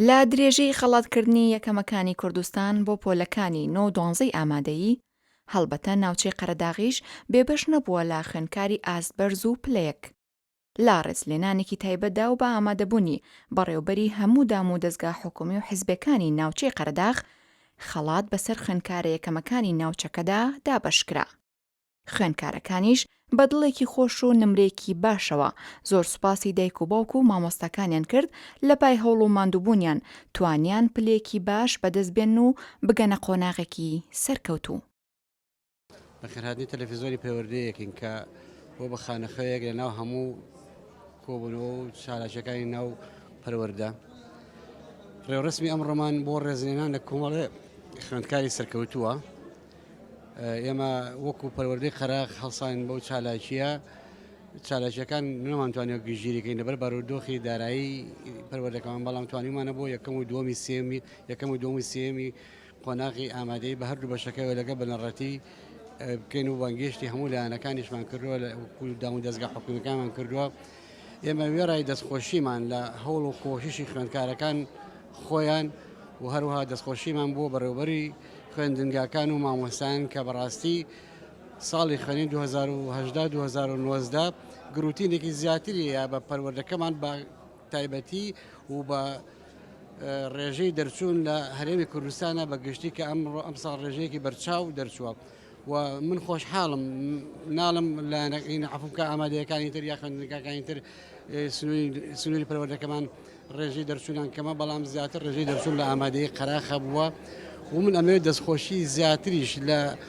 لە درێژەی خەڵاتکردنی یەکەمەکانی کوردستان بۆ پۆلەکانی نۆ دۆنزەی ئامادەیی، هەڵبەتە ناوچەی قەرەداغیش بێبەش نەبووە لە خوێنکاری ئاست بەرز و پلەیەک. لە ڕێزلێنانێکی تایبەتدا و بە ئامادەبوونی بەڕێوەبەری هەموو دام و دەزگا حکوومی و حزبێکانی ناوچەی قەرەداغ، خەڵات بەسەر خوێندکارە یەکەمەکانی ناوچەکەدا دابەش کرا. خوێندکارەکانیش بە دڵێکی خۆش و نمرەیەکی باشەوە، زۆر سوپاسی دایک و باوک و مامۆستاکانیان کرد، لە پای هەوڵ و ماندووبوونیان، توانیان پلەیەکی باش بەدەست بێنن و بگەنە قۆناغێکی سەرکەوتوو. بەخێرهاتنی تەلەفیزۆنی پەروەردەی یەکین کە بۆ بە خانەخوێیەک لە ناو هەموو کۆبوونەوە و چالاکیەکانی ناو پەروەەردە ڕێوڕسمی ئەم ڕۆمان بۆ ڕێزلێنان لە کۆمەڵێ خوێندکاری سەرکەوتووە ئێمە وەکو پەروەردەی قەراق هەڵسان بەو چالاکیە چالاکیەکان نەمانتوانێت گژگیریکەین لەبەر بارودۆخی دارایی پەروەردەکەمان بەڵام توانیمانە بۆ یەکەم و دومی سێمی یەکەم و دومی سێمی قۆناغی ئامادەیی بە هەردوو بەشەکەیەوە لەگەڵ بنەڕەتی بکەین و بانگێشتی هەموو لایەنەکانیشمان کردووە لە داون دەستگا حکومیەکانمان کردووە ئێمە وێڕای دەستخۆشیمان لە هەوڵ و کۆشیشی خوێندکارەکان خۆیان و هەروها دەستخۆشیمان بۆ بەڕێوبەری خوێندنگاکان و مامۆستان کە بەڕاستی ساڵی خوێنین 2010 2019 گروتینێکی زیاتری یا بە پەروەردەکەمان بە تایبەتی و بە ڕێژەی دەرچوون لە هەرێمی کوردستانە بە گشتی کە ئەمڕۆ ئەمساڵ ڕێژەیەکی بەرچاو دەرچووە و من خۆشحاڵم ناڵم لایەنەکەین عفوکە ئامادەیەکانی تر یا خوێندنگاکانی تر سنووری پەروەردەکەمان ڕێژەی دەرچوونان کەمە بەڵام زیاتر ڕێژەی دەرچوون لە ئامادەی قەراخە بووە ومن ئەمەوێت دەستخۆشی زیاتریش لە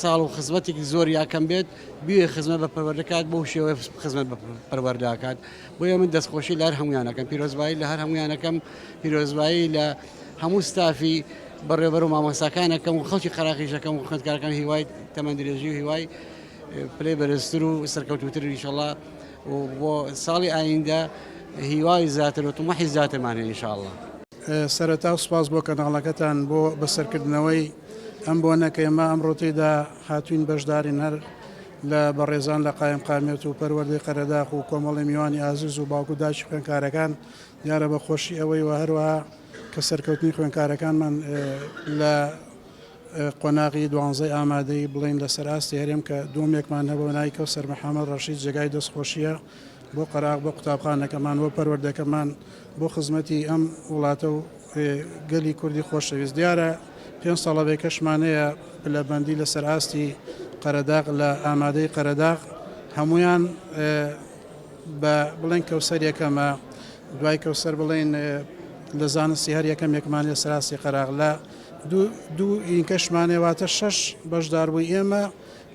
ساڵ و خزمەتێکی زۆر یاکەم بێت بوێ خزمە بە پەروەردەکات بۆ شێوە خزمەت بە پەروەرداکات بۆیە من دەستخۆشی لە هەر هەمویانەکەم پیرۆزبایی لە هەر هەمویانەکەم پیرۆزبایی لە هەموو ستافی بەڕێبەر و مامۆستاکانەکەم و خەڵکی قەراقیشەکەم و خوێندکارەکان هیوای تەمەندرێژی و هیوای پلەی بەرزتر و سەرکەوتوتر ئینشەڵا و بۆ ساڵی ئایندە هیوای زیاتر و تمەحی زیاترمانە ئینشاءاللە. سەرەتا سوپاس بۆ کەناڵەکەتان بۆ بەسەرکردنەوەی ئەم بۆنە کە ئێمە ئەمڕۆ تێیدا هاتووین بەشدارین هەر لە بەڕێزان لە قایم قامیەت و پەروەردەی قەرەداخ و کۆمەڵی میوانی ئازیز و باوکو داکی خوێنکارەکان دیارە بە خۆشی ئەوەی وە هەروەها کە سەرکەوتنی خوێنکارەکانمان لە قۆناغی دوانزەی ئامادەی بڵین لەسەر ئاستی هەرێم کە دومێکمان هەبوو نایکە و سەرمەحامەد ڕەشید جێگای دەستخۆشیە بۆ قەراغ، بۆ قوتابخانەکەمان، بۆ پەروەردەکەمان، بۆ خزمەتی ئەم وڵاتە و گەلی کوردی خۆشەویست. دیارە پێنج ساڵە بەیەکەشمان هەیە پلەبەندی لەسەر ئاستی قەرەداغ لە ئامادەی قەرەداغ هەموویان بە بڵێن کەوسەر یەکەمە دوای کەوسەر بڵێن لە زانستی هەر یەکەمێکمان لەسەر ئاستی قەراغ لە دوو ئینکەشمانێ واتە شەش بەشداربووی ئێمە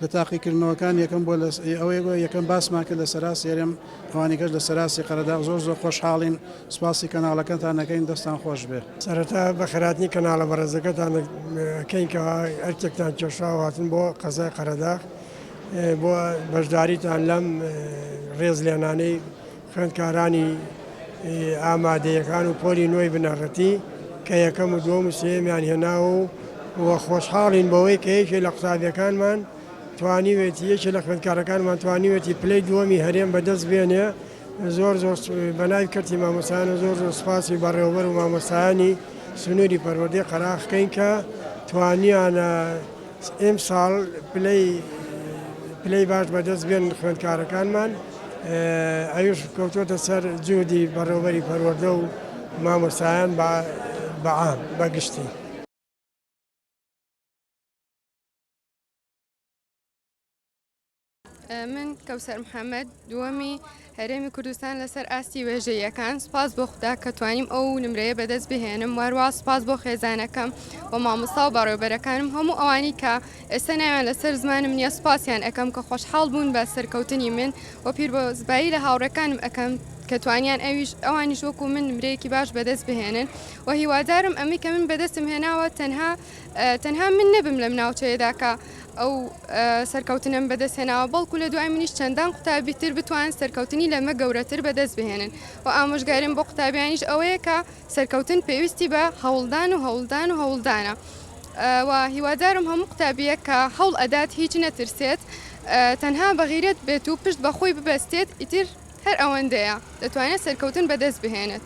لە تاقیکردنەوەکان یەکەم بۆ لە ئەوەی بۆ یەکەم باسمان کرد لە سەراسی هەرێم ئەوانی کەش لە سەراسی قەرەداغ زۆر زۆر خۆشحاڵین سپاسی کەناڵەکەتان نەکەین دەستان خۆش بێ. سەرەتا بە خەراتنی کەناڵە بەڕێزەکەتان کەین کە ئەرکێکتان کێشا و هاتن بۆ قەزای قەرەداغ بۆ بەشداریتان لەم ڕێز لێنانەی خوێندکارانی ئامادەیەکان و پۆلی نۆی بنەڕەتی کە یەکەم و دووەم و سێیەمیان هێناوە و و خۆشحاڵین بەوەی کە یەکێ لە قوتابیەکانمان توانیوێتی یەکێ لە خوێندکارەکانمان توانیوێتی پلەی دووەمی هەرێم بەدەست بێنێ زۆر زۆر بەناوی کەرتی مامۆستایان و زۆر زۆر سپاسی بەڕێوەبەر و مامۆستایانی سنووری پەروەردەی قەراخکەین کە توانیانە ئیمساڵ پلەی پلەی باش بەدەست بێنن خوێندکارەکانمان ئەویش کەوتوەتە سەر جودی بەڕێوبەری پەروەردە و مامۆستایان بەعام بەگشتی. من کەوسەر محەممەد دووەمی هەرێمی کوردستان لەسەر ئاستی وێژەیەکان سپاس بۆ خوددا کە توانیم ئەو نمرەیە بەدەست بهێنم واروا سپاس بۆ خێزانەکەم و مامۆستا و بەڕێوبەرەکانم هەموو ئەوانی کە ئێستا ناویان لەسەر زمانم نییە سپاسیان ئەەکەم کە خۆشحاڵ بوون بە سەرکەوتنی من و پیر بۆ زبایی لە هاوڕێکانم ئەەکەم کە توانیان ئەویش ئەوانیش وەکو من نمرەیەکی باش بەدەست بهێنن و هیوادارم ئەمی کە من بەدەستم هێناوە تەنها تەنها من نەبم لەم ناوچەیەدا کە ئەو سەرکەوتنەم بەدەست هێناوە، بەڵکو لە دوای منیش چەندان قوتابی تر بتوانن سەرکەوتنی لەمە گەورەتر بەدەست بهێنن و ئامۆژگاریم بۆ قوتابیانیش ئەوەیە کە سەرکەوتن پێویستی بە هەوڵدان و هەوڵدان و هەوڵدانە و هیوادارم هەموو قوتابییەک کە هەوڵ ئەدات هیچ نەترسێت تەنها بە غیرەت بێت و پشت بە خۆی ببەستێت ئیتر هەر ئەوەندەیە دەتوانێت سەرکەوتن بەدەست بهێنێت.